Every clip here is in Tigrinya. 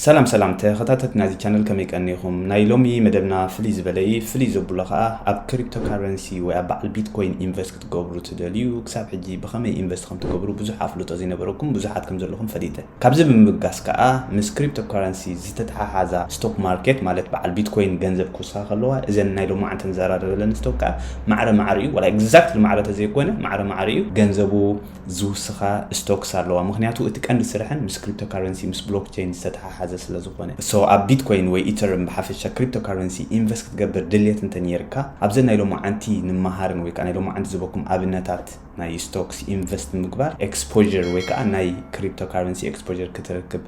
ሰላም ሰላም ተኸታተት ናይዚ ቻነል ከመይ ቀኒኹም ናይ ሎሚ መደብና ፍልይ ዝበለ እዩ ፍልይ ዘብሎ ከዓ ኣብ ክሪፕቶ ካረንሲ ወይ ኣብ በዓል ቢትኮይን ኢንቨስት ክትገብሩ ትደልዩ ክሳብ ሕጂ ብኸመይ ኢንቨስት ከም ትገብሩ ብዙሕ ኣፍልጦ ዘይነበረኩም ብዙሓት ከም ዘለኹም ፈሊጠ ካብዚ ብምብጋስ ከዓ ምስ ክሪፕቶ ካረንሲ ዝተተሓሓዛ ስቶክ ማርኬት ማለት በዓል ቢትኮይን ገንዘብ ክውስኻ ከለዋ እዘን ናይ ሎማዓንቲ ንዘራረበለን ስቶክ ከዓ ማዕረ ማዕሪኡ ዋላ ኤግዛክትሊ ማዕረ ተዘይኮነ ማዕረ ማዕሪኡ ገንዘቡ ዝውስኻ ስቶክስ ኣለዋ ምኽንያቱ እቲ ቀንዲ ስርሐን ምስ ክሪፕቶካረንሲ ምስ ብሎክቸይን ዝተተሓሓዘ ስለ ዝኾነ so ኣብ ቢትኮይን ወይ ኢተርም ብሓፈሻ ክሪፕቶካረንሲ ኢንቨስት ክትገብር ድልየት እንተ ኔርካ ኣብዘን ናይ ሎማዓንቲ ንመሃርን ወይከዓ ናይ ሎማዓንቲ ዝበኩም ኣብነታት ናይ ስቶክስ ኢንቨስት ብምግባር ኤክስፖዠር ወይከዓ ናይ ክሪፕቶካረንሲ ኤክስፖዠር ክትረክብ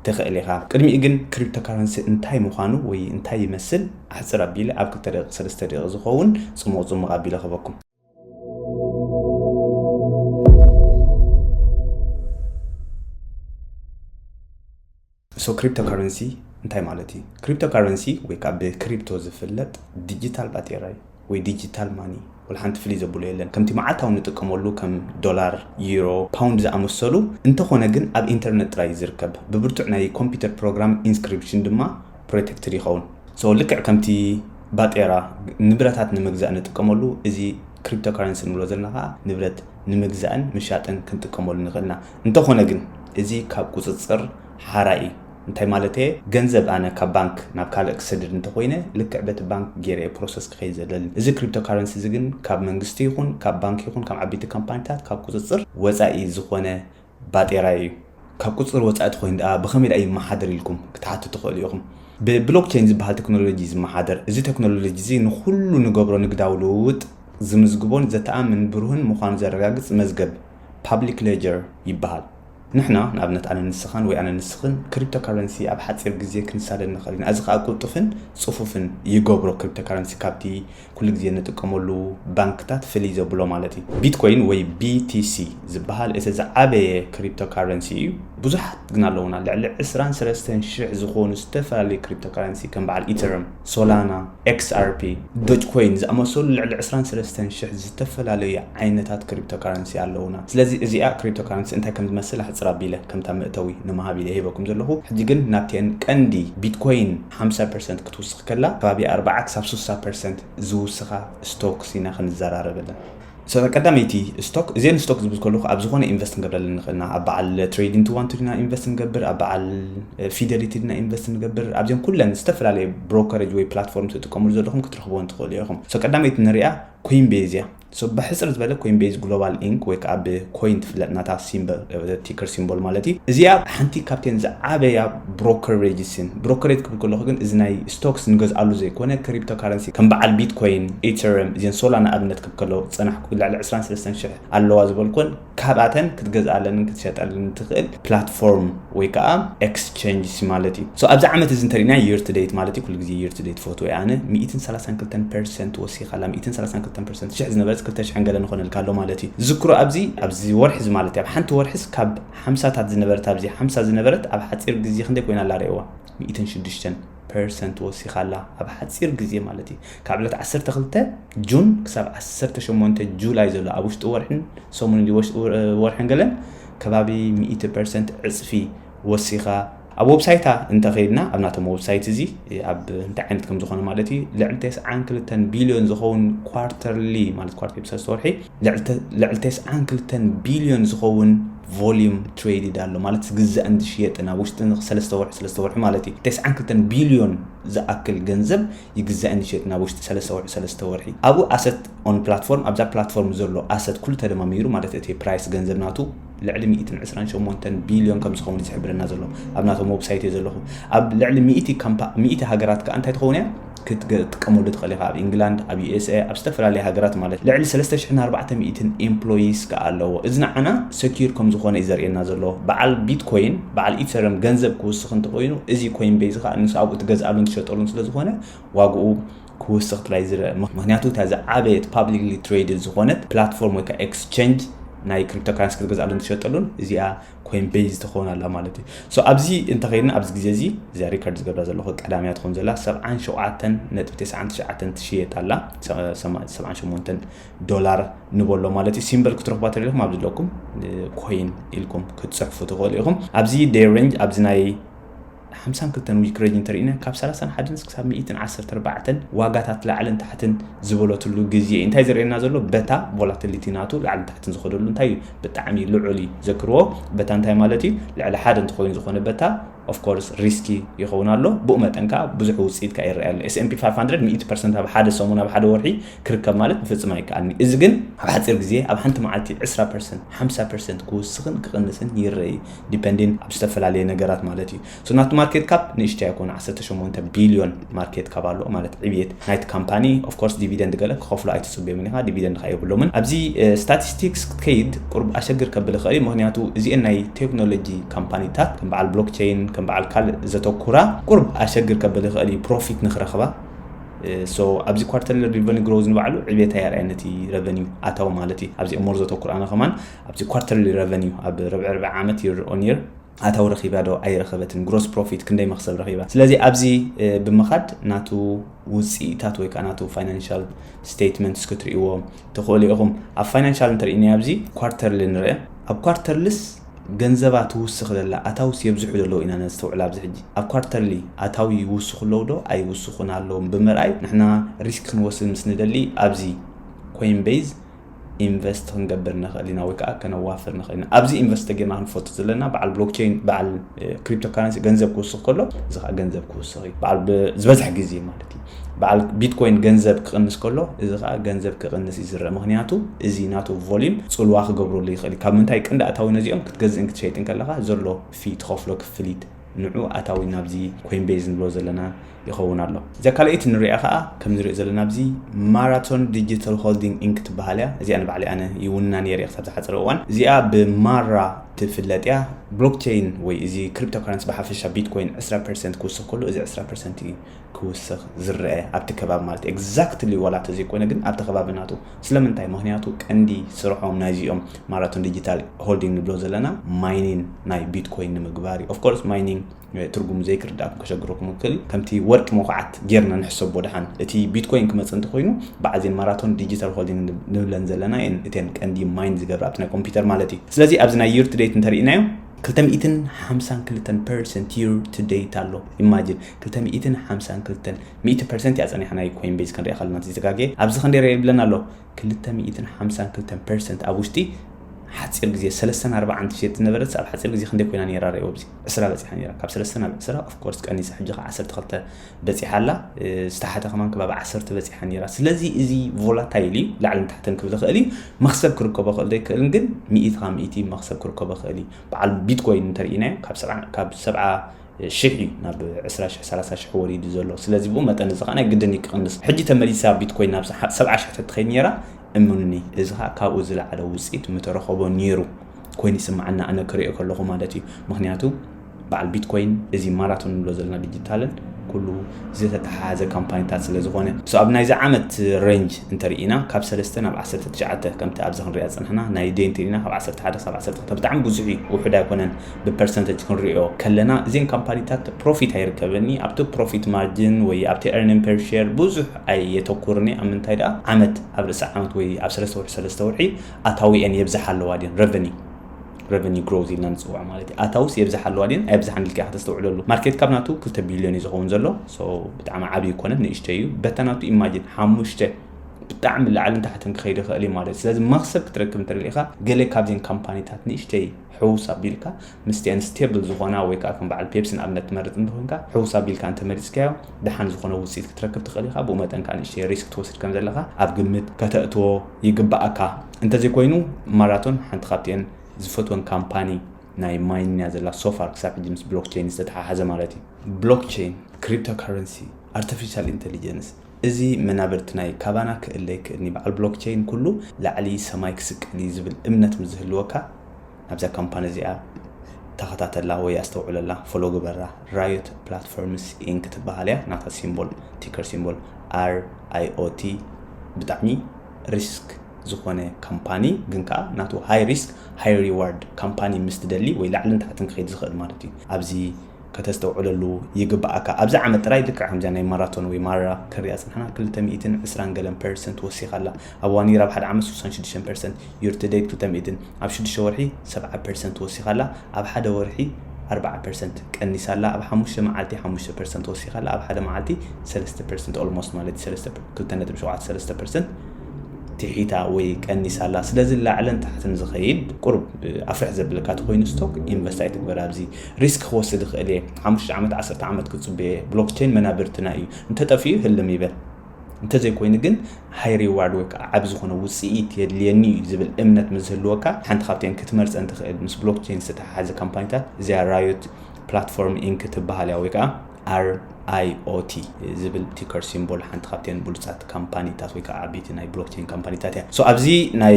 ትኽእል ኢኻ ቅድሚኡ ግን ክሪፕቶካረንሲ እንታይ ምዃኑ ወይ እንታይ ይመስል ኣሕጽር ኣቢለ ኣብ ክልተ ደቂቅ ሰለስተ ደቂቅ ዝኸውን ጽሙቅ ጽሙቅ ኣቢለ ክህበኩም። ሶ ክሪፕቶ ካረንሲ እንታይ ማለት እዩ ክሪፕቶ ካረንሲ ወይ ከዓ ብክሪፕቶ ዝፍለጥ ዲጂታል ባጤራ እዩ ወይ ዲጂታል ማኒ ወላ ሓንቲ ፍልይ ዘብሎ የለን ከምቲ መዓልታዊ ንጥቀመሉ ከም ዶላር ዩሮ ፓውንድ ዝኣመሰሉ እንተኾነ ግን ኣብ ኢንተርነት ጥራይ ዝርከብ ብብርቱዕ ናይ ኮምፒውተር ፕሮግራም ኢንስክሪፕሽን ድማ ፕሮቴክትድ ይኸውን so ልክዕ ከምቲ ባጤራ ንብረታት ንምግዛእ ንጥቀመሉ እዚ ክሪፕቶ ካረንሲ ንብሎ ዘለና ከዓ ንብረት ንምግዛእን ምሻጥን ክንጥቀመሉ ንኽእል ኢና እንተኾነ ግን እዚ ካብ ቁፅፅር ሓራ እዩ እንታይ ማለት እየ ገንዘብ ኣነ ካብ ባንክ ናብ ካልእ ክሰድድ እንተኮይነ ልክዕ በቲ ባንክ ገይረ እየ ፕሮሰስ ክኸይድ ዘለኒ እዚ ክሪፕቶ ካረንሲ እዚ ግን ካብ መንግስቲ ይኹን ካብ ባንክ ይኹን ካብ ዓበይቲ ካምፓኒታት ካብ ቁፅፅር ወፃኢ ዝኾነ ባጤራ እዩ ካብ ቁፅፅር ወፃኢ ተኾይኑ ድኣ ብኸመይ ድኣ ይመሓደር ኢልኩም ክትሓቱ ትኽእሉ ኢኹም። ብብሎክቸይን ዝበሃል ተክኖሎጂ እዩ ዝመሓደር። እዚ ተክኖሎጂ እዚ ንኹሉ ንገብሮ ንግዳዊ ልውውጥ ዝምዝግቦን ዘተኣምን ብሩህን ምዃኑ ዘረጋግፅ መዝገብ፣ ፓብሊክ ሌጀር፣ ይበሃል። ንሕና፣ ንኣብነት ኣነ ንስኻን ወይ ኣነ ንስኽን፣ ክሪፕቶካረንሲ ኣብ ሓፂር ግዜ ክንሳደድ ንኽእል ኢና። እዚ ከዓ ቅልጡፍን ፅፉፍን ይገብሮ ክሪፕቶካረንሲ ካብቲ ኩሉ ግዜ እንጥቀመሉ ባንክታት ፍልይ ዘብሎ ማለት እዩ። ቢትኮይን ወይ BTC ዝበሃል እቲ ዝዓበየ ክሪፕቶካረንሲ እዩ። ብዙሓት ግን ኣለዉና፣ ልዕሊ ዕስራን ሰለስተን ሽሕ ዝኾኑ ዝተፈላለዩ ክሪፕቶካረንሲ ከም በዓል ኢተርም፣ ሶላና፣ XRP፣ ዶጅኮይን ዝኣመሰሉ ልዕሊ ዕስራን ሰለስተን ሽሕ ዝተፈላለዩ ዓይነታት ክሪፕቶካረንሲ ኣለዉና። ስለዚ እዚኣ ክሪፕቶካረንሲ እንታይ ከም ዝመስል ኣሕጽር ኣቢለ ከምታ መእተዊ ንምሃብ ኢለ ሂበኩም ዘለኹ። ሕጂ ግን ናብተን ቀንዲ ቢትኮይን ሓምሳ ፐርሰንት ትውስኽ ከላ ከባቢ ኣርባዓ ክሳብ ስሳ ፐርሰንት ዝውስኻ ስቶክስ ኢና ክንዘራረበለን። እታ ቀዳመይቲ ስቶክ፣ እዚኤን ስቶክ ዝብል ከለኹ ኣብ ዝኾነ ኢንቨስት ክንገብረለን ንኽእል ኢና፣ ኣብ በዓል ትሬዲን ቱ ዋን ቱ ዲና ኢንቨስት ንገብር፣ ኣብ በዓል ፊደሊቲ ዲና ኢንቨስት ንገብር፣ ኣብዘን ኩለን ዝተፈላለየ ብሮከረጅ ወይ ፕላትፎርም ትጥቀምሉ ዘለኹም ክትረኽብወን ትኽእሉ ኢኹም። እታ ቀዳመይቲ ንሪኣ ኮይንቤዝ እያ። So ብሕጽር ዝበለ ኮይንቤዝ ግሎባል ኢንክ ወይ ከኣ ብ ኮይን ትፍለጥ ናታ ሲምበል ቲከር ሲምቦል ማለት እዩ እዚኣ ሓንቲ ካብተን ዝዓበያ ብሮከሬጅስን ብሮከሬጅ ክብል ከለኹ ግን እዚ ናይ ስቶክስ ንገዝኣሉ ዘይኮነ ክሪፕቶ ካረንሲ ከም በዓል ቢትኮይን ኢተርም እዘን ሶላና ኣብነት ክብ ከለኹ ዝጸናሕኩ ልዕሊ ዕስራን ሰለስተን ሽሕ ኣለዋ ዝበልኩወን ካብኣተን ክትገዝኣለንን ክትሸጠለንን ትኽእል ፕላትፎርም ወይ ከኣ ኤክስቸንጅስ ማለት እዩ። ሶ ኣብዚ ዓመት እዚ እንተሪእናዮ year to date ማለት እዩ ኩሉ ግዜ year to date ትፈትዎ እየ ኣነ ሚእትን ሰላሳን ክልተን ፐርሰንት ወሲኻ ኣላ ሚእትን ሰላሳን ክልተን ፐርሰንት ሽሕ ዝነበረት ክልተ ሽሕን ገለን ንኾነልካ ኣሎ ማለት እዩ ዝዝክሮ ኣብዚ ኣብዚ ወርሒ እዚ ማለት እዩ ኣብ ሓንቲ ወርሒስ ካብ ሓምሳታት ዝነበረት ኣብዚ ሓምሳ ዝነበረት ኣብ ሓጺር ግዜ ክንደይ ኮይና ኣላ ርኤዋ ሚእትን ሽዱሽተን ፐርሰንት ወሲኻ ኣላ ኣብ ሓጺር ግዜ ማለት እዩ ካብ ዕለት ዓሰርተ ክልተ ጁን ክሳብ ዓሰርተ ሸሞንተ ጁላይ ዘሎ ኣብ ውሽጢ ወርሕን ሰሙን እንዲ ወርሕን ገለን ከባቢ ሚእቲ ፐርሰንት ዕጽፊ ወሲኻ ኣብ ወብሳይታ እንተኸይድና ኣብ ናቶም ወብሳይት እዚ ኣብ እንታይ ዓይነት ከም ዝኾነ ማለት እዩ ልዕሊ ተስዓን ክልተን ቢልዮን ዝኸውን ኳርተርሊ ማለት ኳርተርሊ ሰለስተ ወርሒ ልዕሊ ተስዓን ክልተን ቢልዮን ዝኸውን ቮልዩም ትሬድድ ኣሎ ማለት ዝግዛእን ዝሽየጥን ኣብ ውሽጢ ሰለስተ ወርሒ ሰለስተ ወርሒ ማለት እዩ ተስዓን ክልተን ቢልዮን ዝኣክል ገንዘብ ይግዛእን ይሽየጥን ኣብ ውሽጢ ሰለስተ ወርሒ ሰለስተ ወርሒ ኣብኡ ኣሰት ኦን ፕላትፎርም ኣብዛ ፕላትፎርም ዘሎ ኣሰት ኩሉ ተደማሚሩ ማለት እቲ ፕራይስ ገንዘብ ናቱ ልዕሊ ሚእትን ዕስራን ሸሞንተን ቢልዮን ከም ዝኸውን ዝሕብረና ዘሎ ኣብ ናቶም ወብሳይት እየ ዘለኹ ኣብ ልዕሊ ሚእቲ ሚእቲ ሃገራት ከዓ እንታይ ትኸውን እያ ክትጥቀመሉ ትኽእል ኢኻ ኣብ ኢንግላንድ ኣብ ዩኤስኤ ኣብ ዝተፈላለየ ሃገራት ማለት ልዕሊ 3400 ኤምፕሎይስ ከዓ ኣለዎ እዚ ንዓና ሰኪር ከም ዝኾነ እዩ ዘርእየና ዘሎ በዓል ቢትኮይን በዓል ኢተረም ገንዘብ ክውስኽ እንተኮይኑ እዚ ኮይን ቤዝ ከዓ ንስ ኣብኡ ትገዝኣሉን ትሸጠሉን ስለዝኾነ ዋግኡ ክውስኽ ጥራይ ዝረኣ ምኽንያቱ እታ ዝዓበየት ፓብሊክሊ ትሬድድ ዝኾነት ፕላትፎርም ወይ ከዓ ኤክስቸንጅ ናይ ክሪፕቶ ካረንሲ ክትገዝኣሉን ትሸጠሉን እዚኣ ኮይን ቤዝ ትኸውን ኣላ ማለት እዩ ሶ ኣብዚ እንተኸይድና ኣብዚ ግዜ እዚ እዚኣ ሪከርድ ዝገብራ ዘለኹ ቀዳምያ ትኸውን ዘላ 77 ነጥቢ 99 ትሽየጥ ኣላ 78 ዶላር ንበሎ ማለት እዩ ሲምበል ክትረኽቧ ተሪኹም ኣብ ዝለኩም ኮይን ኢልኩም ክትፅሕፉ ትኽእሉ ኢኹም ኣብዚ ዴይ ሬንጅ ኣብዚ ናይ ሓምሳን ክልተን ዊክረጅ እንተርኢነ ካብ ሰላሳን ሓደን እስክሳብ ሚኢትን ዓሰርተ ኣርባዕተን ዋጋታት ላዕልን ታሕትን ዝበለትሉ ግዝየ እዩ እንታይ ዝርእየና ዘሎ በታ ቮላቲሊቲ ናቱ ላዕልን ታሕትን ዝኸደሉ እንታይ እዩ ብጣዕሚ ልዑል እዩ ዘክርዎ በታ እንታይ ማለት እዩ ልዕሊ ሓደ እንትኸውን ዝኾነ በታ ኦፍ ኮርስ ሪስኪ ይኸውን ኣሎ ብኡ መጠን ከዓ ብዙሕ ውፅኢት ከዓ ይረኣይ ኣሎ ኤስኤምፒ 500 ሚእቲ ፐርሰንት ኣብ ሓደ ሰሙን ኣብ ሓደ ወርሒ ክርከብ ማለት ብፍፅም ኣይከኣልኒ እዚ ግን ኣብ ሓፂር ግዜ ኣብ ሓንቲ መዓልቲ ዕስራ ፐርሰንት ሓምሳ ፐርሰንት ክውስኽን ክቕንስን ይረኢ ዲፐንዲን ኣብ ዝተፈላለየ ነገራት ማለት እዩ። ሶ ናቱ ማርኬት ካፕ ንእሽተይ ኣይኮኑ ዓሰርተ ሸሞንተ ቢልዮን ማርኬት ካፕ ኣለዎ ማለት ዕብየት ናይቲ ካምፓኒ ኦፍ ኮርስ ዲቪደንድ ገለ ክኸፍሉ ኣይትጽብዮምን ኢኻ ዲቪደንድ ከኣ የብሎምን ኣብዚ ስታቲስቲክስ ክትከይድ ቁርብ ኣሸግር ከብል ይኽእል እዩ ምኽንያቱ እዚኤን ናይ ቴክኖሎጂ ካምፓኒታት ከም በዓል ብሎክቸይን ከም በዓል ካልእ ዘተኩራ ቁርብ ኣሸግር ከብል ይኽእል እዩ ፕሮፊት ንኽረኽባ ሶ ኣብዚ ኳርተርሊ ሪቨኒ ግሮዝ ንባዕሉ ዕብየት ኣየርኣየን እቲ ረቨኒው ኣታዊ ማለት እዩ ኣብዚ እሞር ዘተኩር ኣነ ከማን ኣብቲ ኳርተርሊ ረቨኒው ኣብ ርብዒ ርብዒ ዓመት ይር ኦን ይር ኣታዊ ረኺባ ዶ ኣይረኸበትን ግሮስ ፕሮፊት ክንደይ መኽሰብ ረኺባ ስለዚ ኣብዚ ብምኻድ ናቱ ውፅኢታት ወይ ከዓ ናቱ ፋይናንሻል ስቴትመንትስ ክትርእይዎ ትኽእሉ ኢኹም ኣብ ፋይናንሻል እንተርእይናዮ ኣብዚ ኳርተርሊ ንርአ ኣብ ኳርተርልስ ገንዘባ ትውስኽ ዘላ ኣታውስ የብዝሑ ዘለዉ ኢና ነስተውዕል ኣብዚ ሕጂ ኣብ ኳርተርሊ ኣታዊ ይውስኹ ኣለዉ ዶ ኣይውስኹን ኣለዎም ብምርኣይ ንሕና ሪስክ ክንወስድ ምስ ንደሊ ኣብዚ ኮይን ቤዝ ኢንቨስት ክንገብር ንኽእል ኢና ወይ ከዓ ከነዋፍር ንኽእል ኢና ኣብዚ ኢንቨስት ተጌርና ክንፈልጡ ዘለና በዓል ብሎክቸይን በዓል ክሪፕቶ ካረንሲ ገንዘብ ክውስኽ ከሎ እዚ ከዓ ገንዘብ ክውስኽ እዩ በዓል ዝበዝሐ ግዜ ማለት እዩ በዓል ቢትኮይን ገንዘብ ክቕንስ ከሎ እዚ ከዓ ገንዘብ ክቕንስ እዩ ዝረአ ምክንያቱ እዚ ናቱ ቮሊዩም ፅልዋ ክገብረሉ ይኽእል እዩ ካብ ምንታይ ቅንዲ ኣታዊ ነዚኦም ክትገዝእን ክትሸይጥን ከለካ ዘሎ ፊ ትኸፍሎ ክፍሊት ንዑ ኣታዊ ናብዚ ኮይንቤዝ ንብሎ ዘለና ይኸውን ኣሎ። እዛ ካልኣይቲ ንሪኣ ከኣ ከም ንሪኦ ዘለና ኣብዚ ማራቶን ዲጂታል ሆልዲንግ ኢንክ ትበሃል እያ። እዚኣ ንባዕለይ ኣነ ይውንና ነይረ ክሳብ ዝሓጸረ እዋን። እዚኣ ብማራ ትፍለጥ እያ። ብሎክቸይን ወይ እዚ ክሪፕቶካረንሲ ብሓፈሻ ቢትኮይን ዕስራ ፐርሰንት ክውስኽ ከሎ እዚ ዕስራ ፐርሰንት እዩ። ክውስኽ ዝረኣ ኣብቲ ከባቢ ማለት እዩ ኤግዛክትሊ ዋላ ተዘይኮይነ ግን ኣብቲ ከባቢ ናቱ ስለምንታይ ምክንያቱ ቀንዲ ስርሖም ናይዚኦም ማራቶን ዲጂታል ሆልዲንግ ንብሎ ዘለና ማይኒን ናይ ቢትኮይን ንምግባር እዩ ኦፍኮርስ ማይኒንግ ትርጉሙ ዘይክርዳእኩም ከሸግረኩም ይኽእል ከምቲ ወርቂ መኩዓት ጌርና ንሕሰቦ ድሓን እቲ ቢትኮይን ክመፅእ እንተኮይኑ ብዓዜን ማራቶን ዲጂታል ሆልዲንግ ንብለን ዘለና እየን እተን ቀንዲ ማይን ዝገብራ ኣብቲ ናይ ኮምፒውተር ማለት እዩ ስለዚ ኣብዚ ናይ ዩርትዴት እንተርኢናዮ ክልተ ሚእትን ሓምሳን ክልተን ፐርሰንት ዩር ቱ ደይት ኣሎ ኢማጅን ክልተ ሚእትን ሓምሳን ክልተን ሚእቲ ፐርሰንት እያ ጸኒሓ ናይ ኮይን ቤዝ ክንሪኣ ከለና ተዘጋግየ ኣብዚ ክንደይ ርኣ ይብለና ኣሎ ክልተ ሚእትን ሓምሳን ክልተን ፐርሰንት ኣብ ውሽጢ ሓጺር ግዜ ሰለስተን ኣርባዓን ትሸጥ ዝነበረት ኣብ ሓጺር ግዜ ክንደይ ኮይና ነይራ ርኣዮ ኣብዚ ዕስራ በጺሓ ነይራ ካብ ሰለስተ ናብ ዕስራ ኦፍ ኮርስ ቀኒሳ ሕጂ ከ ዓሰርተ ክልተ በጺሓ ኣላ ዝተሓተ ከማን ከባቢ ዓሰርተ በጺሓ ነይራ ስለዚ እዚ ቮላታይል እዩ ላዕልን ታሕትን ክብል ይኽእል እዩ መክሰብ ክርከቦ ክእል ዘይክእልን ግን ሚእቲ ካብ ሚእቲ መክሰብ ክርከቦ ክእል እዩ በዓል ቢትኮይን እንተርኢናዮ ካብ ሰብዓ ሽሕ እዩ ናብ ዕስራ ሽሕ ሰላሳ ሽሕ ወሪዱ ዘሎ ስለዚ ብኡ መጠን እዚ ከዓ ናይ ግድን እዩ ክቕንስ ሕጂ ተመሊሳ ቢትኮይን ናብ ሰብዓ ሽሕ ተትኸይድ ነይራ እምኑኒ እዚ ከዓ ካብኡ ዝለዓለ ውፅኢት ምተረኸቦ ነይሩ ኮይኑ ይስምዓና ኣነ ክሪኦ ከለኹ ማለት እዩ ምክንያቱ በዓል ቢትኮይን እዚ ማራቶን እንብሎ ዘለና ዲጂታልን ኩሉ ዝተተሓሓዘ ካምፓኒታት ስለ ዝኾነ። So ኣብ ናይዚ ዓመት ሬንጅ እንተ ርኢና ካብ ሰለስተ ናብ ዓሰርተ ትሽዓተ ከምቲ ኣብዚ ክንሪኣ ዝጸናሕና ናይ Day እንተ ርኢና ካብ ዓሰርተ ሓደ ክሳብ ዓሰርተ ክልተ ብጣዕሚ ብዙሕ እዩ ውሑድ ኣይኮነን ብ Percentage ክንሪኦ ከለና እዘን ካምፓኒታት ፕሮፊት ኣይርከበን እየ ኣብቲ ፕሮፊት ማርጅን ወይ ኣብቲ Earning Per Share ብዙሕ ኣየተኩርን እየ ኣብ ምንታይ ደኣ ዓመት ኣብ ርእሲ ዓመት ወይ ኣብ ሰለስተ ወርሒ ሰለስተ ወርሒ ኣታዊኤን የብዝሓ ኣለዋ ድየን Revenue ረቨኒ ግሮዝ ኢልና ንፅውዖ ማለት እዩ ኣታውስ የብዛሓ ኣለዋ ድን ኣይብዛሓን ኢልካ ከተስተውዕለሉ ማርኬት ካብ ናቱ ክልተ ቢልዮን እዩ ዝኸውን ዘሎ ብጣዕሚ ዓብዪ ይኮነን ንእሽተይ እዩ በታ ናቱ ኢማጂን ሓሙሽተ ብጣዕሚ ላዕልን ታሕትን ክኸይድ ይኽእል እዩ ማለት ስለዚ መክሰብ ክትረክብ እንተደሊኻ ገለ ካብዘን ካምፓኒታት ንእሽተይ ሕውስ ኣቢልካ ምስቲኣን ስቴብል ዝኾና ወይ ከዓ ከም በዓል ፔፕሲ ንኣብነት ትመርፅ እንተኾንካ ሕውስ ኣቢልካ እንተመሪፅካዮ ደሓን ዝኾነ ውፅኢት ክትረክብ ትኽእል ኢኻ ብኡ መጠን ከዓ ንእሽተይ ሪስክ ትወስድ ከም ዘለኻ ኣብ ግምት ከተእትዎ ይግባኣካ እንተዘይኮይኑ ማራቶን ሓንቲ ካብቲኤን ዝፈትወን ካምፓኒ ናይ ማይን እያ ዘላ ሶፋር ክሳብ ሕጂ ምስ ብሎክቸይን ዝተተሓሓዘ ማለት እዩ ብሎክቸይን ክሪፕቶ ካረንሲ ኣርቲፊሻል ኢንተሊጀንስ እዚ መናብርቲ ናይ ካባና ክእለ ይክእልኒ በዓል ብሎክቸይን ኩሉ ላዕሊ ሰማይ ክስቀል እዩ ዝብል እምነት ምስ ዝህልወካ ናብዛ ካምፓኒ እዚኣ ተኸታተላ ወይ ኣስተውዕለላ ፎሎ ግበራ ራዮት ፕላትፎርምስ ኢንክ ትበሃል እያ ናታ ሲምቦል ቲከር ሲምቦል ኣር ኣይኦቲ ብጣዕሚ risk ዝኾነ ካምፓኒ ግን ከኣ ናቱ high risk high reward ካምፓኒ ምስ ትደሊ ወይ ላዕልን ታሕትን ክኸይድ ዝኽእል ማለት እዩ ኣብዚ ከተስተውዕለሉ ይግበኣካ ኣብዚ ዓመት ጥራይ ልክዕ ከምዚኣ ናይ ማራቶን ወይ ማራ ክንሪኣ ጽንሕና ክልተ ሚእትን ዕስራን ገለን ፐርሰንት ወሲኻ ኣላ ኣብ እዋን ኢራብ ሓደ ዓመት ሱሳን ሽዱሽተን ፐርሰንት year to date ክልተ ሚእትን ኣብ ሽዱሽተ ወርሒ ሰብዓ ፐርሰንት ወሲኻ ኣላ፣ ኣብ ሓደ ወርሒ ኣርብዓ ፐርሰንት ቀኒሳ ኣላ፣ ኣብ ሓሙሽተ መዓልቲ ሓሙሽተ ፐርሰንት ወሲኻ ኣላ፣ ኣብ ሓደ መዓልቲ ሰለስተ ፐርሰንት፣ Almost፣ ማለት እዩ፣ ሰለስተ፣ ክልተ ነጥቢ ሸውዓተ ሰለስተ ፐርሰንት ትሒታ ወይ ቀኒሳ ኣላ። ስለዚ ላዕልን ታሕትን ዝኸይድ ቁሩብ ኣፍርሕ ዘብለካ ተኾይኑ ስቶክ ኢንቨስት ኣይትግበር ኣብዚ። ሪስክ ክወስድ ይኽእል እየ፣ ሓሙሽተ ዓመት ዓሰርተ ዓመት ክጽበ እየ፣ ብሎክቸይን መናብርትና እዩ፣ እንተጠፊኡ ህልም ይበል። እንተዘይኮይኑ ግን high reward ወይ ከዓ ዓቢ ዝኾነ ውጽኢት የድልየኒ እዩ ዝብል እምነት ምስ ዝህልወካ ሓንቲ ካብተን ክትመርጸን ትኽእል ምስ ብሎክቸይን ዝተተሓሓዘ ካምፓኒታት እዚኣ Riot Platform Inc ትበሃል እያ ወይ ከዓ RIOT ዝብል ቲከር ሲምቦል ሓንቲ ካብተን ብሉጻት ካምፓኒታት ወይ ከዓ ዓበይቲ ናይ ብሎክቸይን ካምፓኒታት እያ። So ኣብዚ ናይ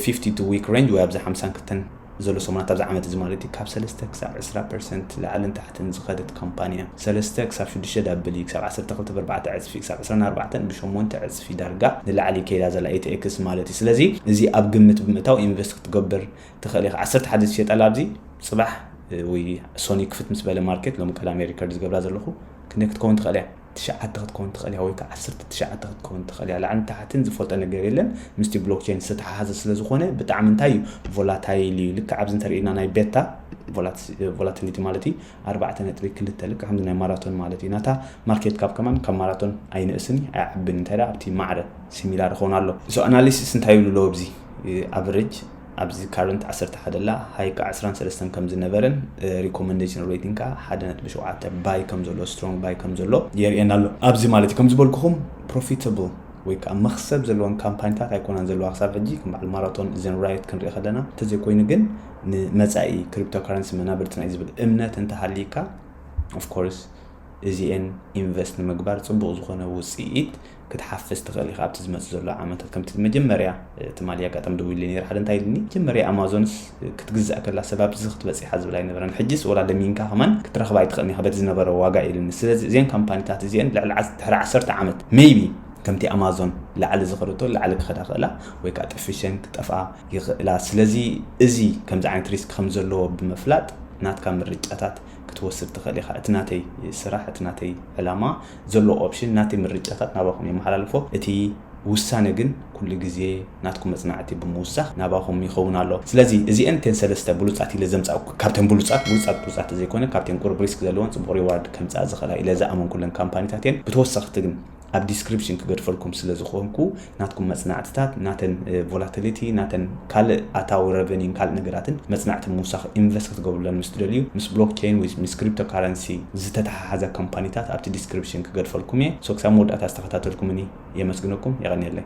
52 week range ወይ ኣብዚ ሓምሳን ክልተን ዘሎ ሰሙናት ኣብዚ ዓመት እዚ ማለት እዩ ካብ ሰለስተ ክሳብ ዕስራ ፐርሰንት ላዕልን ታሕትን ዝኸደት ካምፓኒ እያ። ሰለስተ ክሳብ ሽዱሽተ ዳብል እዩ ክሳብ ዓሰርተ ክልተ ብኣርባዕተ ዕጽፊ ክሳብ ዕስራን ኣርባዕተን ብሸሞንተ ዕጽፊ ዳርጋ ንላዕሊ እዩ ከይዳ ዘላ ኤትኤክስ ማለት እዩ። ስለዚ እዚ ኣብ ግምት ብምእታው ኢንቨስት ክትገብር ትኽእል ኢኻ። ዓሰርተ ሓደ ዝሸጠላ ኣብዚ ጽባሕ ወይ ሶኒ ክፍት ምስ በለ ማርኬት ሎሚ ቀዳም'የ ሪከርድ ዝገብራ ዘለኹ ክንደይ ክትከውን ትኽእል እያ? ትሽዓተ ክትከውን ትኽእል እያ ወይ ከኣ ዓሰርተ ትሽዓተ ክትከውን ትኽእል እያ ላዕልን ታሕትን ዝፈልጦ ነገር የለን ምስቲ ብሎክቸይን ዝተተሓሓዘ ስለ ዝኾነ ብጣዕሚ እንታይ እዩ ቮላታይል እዩ ልክዕ ኣብዚ እንተርእዩና ናይ ቤታ ቮላቲሊቲ ማለት እዩ ኣርባዕተ ነጥቢ ክልተ ልክዕ ከምዚ ናይ ማራቶን ማለት እዩ ናታ ማርኬት ካብ ከማን ካብ ማራቶን ኣይንእስን እዩ ኣይዓብን እንታይ ኣብቲ ማዕረ ሲሚላር ይኸውን ኣሎ ሶ ኣናሊሲስ እንታይ ይብሉ ኣለዎ ኣብዚ ኣቨሬጅ ኣብዚ ካረንት ዓሰርተ ሓደ ኣላ ሃይ ክኣ ዕስራን ሰለስተን ከም ዝነበረን ሪኮመንደሽን ሬቲንግ ክኣ ሓደ ነጥቢ ሸውዓተ ባይ ከም ዘሎ ስትሮንግ ባይ ከም ዘሎ የርእየና ኣሎ ኣብዚ ማለት እዩ ከም ዝበልኩኹም ፕሮፊታብል ወይ ከዓ መክሰብ ዘለወን ካምፓኒታት ኣይኮናን ዘለዋ ክሳብ ሕጂ ከም በዓል ማራቶን እዘን ራዮት ክንርኢ ከለና እንተዘይኮይኑ ግን ንመፃኢ ክሪፕቶካረንሲ መናብርትና እዩ ዝብል እምነት እንተሃሊካ ኦፍኮርስ እዚኤን ኢንቨስት ንምግባር ፅቡቅ ዝኮነ ውፅኢት ክትሓፍስ ትኽእል ኢኻ ኣብቲ ዝመጽእ ዘሎ ዓመታት ከምቲ መጀመርያ ትማሊ ኣጋጣሚ ደዊሉ ነይረ ሓደ እንታይ ኢልኒ መጀመርያ ኣማዞንስ ክትግዛእ ከላ ሰብ ኣብዚ ክትበጽሕ ዝብል ኣይነበረን ሕጅስ ወላ ለሚንካ ከማን ክትረኽባ ኣይትኽእልን ኢኻ በቲ ዝነበረ ዋጋ ኢልኒ ስለዚ እዘን ካምፓኒታት እዚኤን ልዕሊ ድሕሪ ዓሰርተ ዓመት ሜይቢ ከምቲ ኣማዞን ላዕሊ ዝኸደቶ ላዕሊ ክኸዳ ክእላ ወይ ከዓ ጠፊሸን ክጠፍኣ ይኽእላ ስለዚ እዚ ከምዚ ዓይነት ሪስክ ከም ዘለዎ ብምፍላጥ ናትካ ምርጫታት ክትወስድ ትኽእል ኢኻ። እቲ ናተይ ስራሕ፣ እቲ ናተይ ዕላማ፣ ዘሎ ኦፕሽን፣ ናተይ ምርጫታት ናባኹም የመሓላልፎ። እቲ ውሳነ ግን ኩሉ ግዜ ናትኩም መጽናዕቲ ብምውሳኽ ናባኹም ይኸውን ኣሎ። ስለዚ እዚኤን እተን ሰለስተ ብሉጻት ኢለ ዘምጻእኩ ካብተን ብሉጻት ብሉጻት ብሉጻት ተዘይኮነ ካብተን ቁሩብ ሪስክ ዘለወን ጽቡቕ ሪዋርድ ከምጽኣ ዝኽእላ ኢለ ዝኣመንኩለን ካምፓኒታት እየን። ብተወሰኽቲ ግን። ኣብ ዲስክሪፕሽን ክገድፈልኩም ስለ ዝኾንኩ ናትኩም መጽናዕትታት ናተን ቮላቲሊቲ ናተን ካልእ ኣታዊ ረቨኒን ካልእ ነገራትን መጽናዕቲ ምውሳኽ ኢንቨስት ክትገብሩለን ምስ ትደልዩ ምስ ብሎክ ቸይን ወይ ምስ ክሪፕቶ ካረንሲ ዝተተሓሓዛ ካምፓኒታት ኣብቲ ዲስክሪፕሽን ክገድፈልኩም እየ ሶ ክሳብ መወዳእታ ዝተኸታተልኩምኒ የመስግነኩም የቐንየለይ።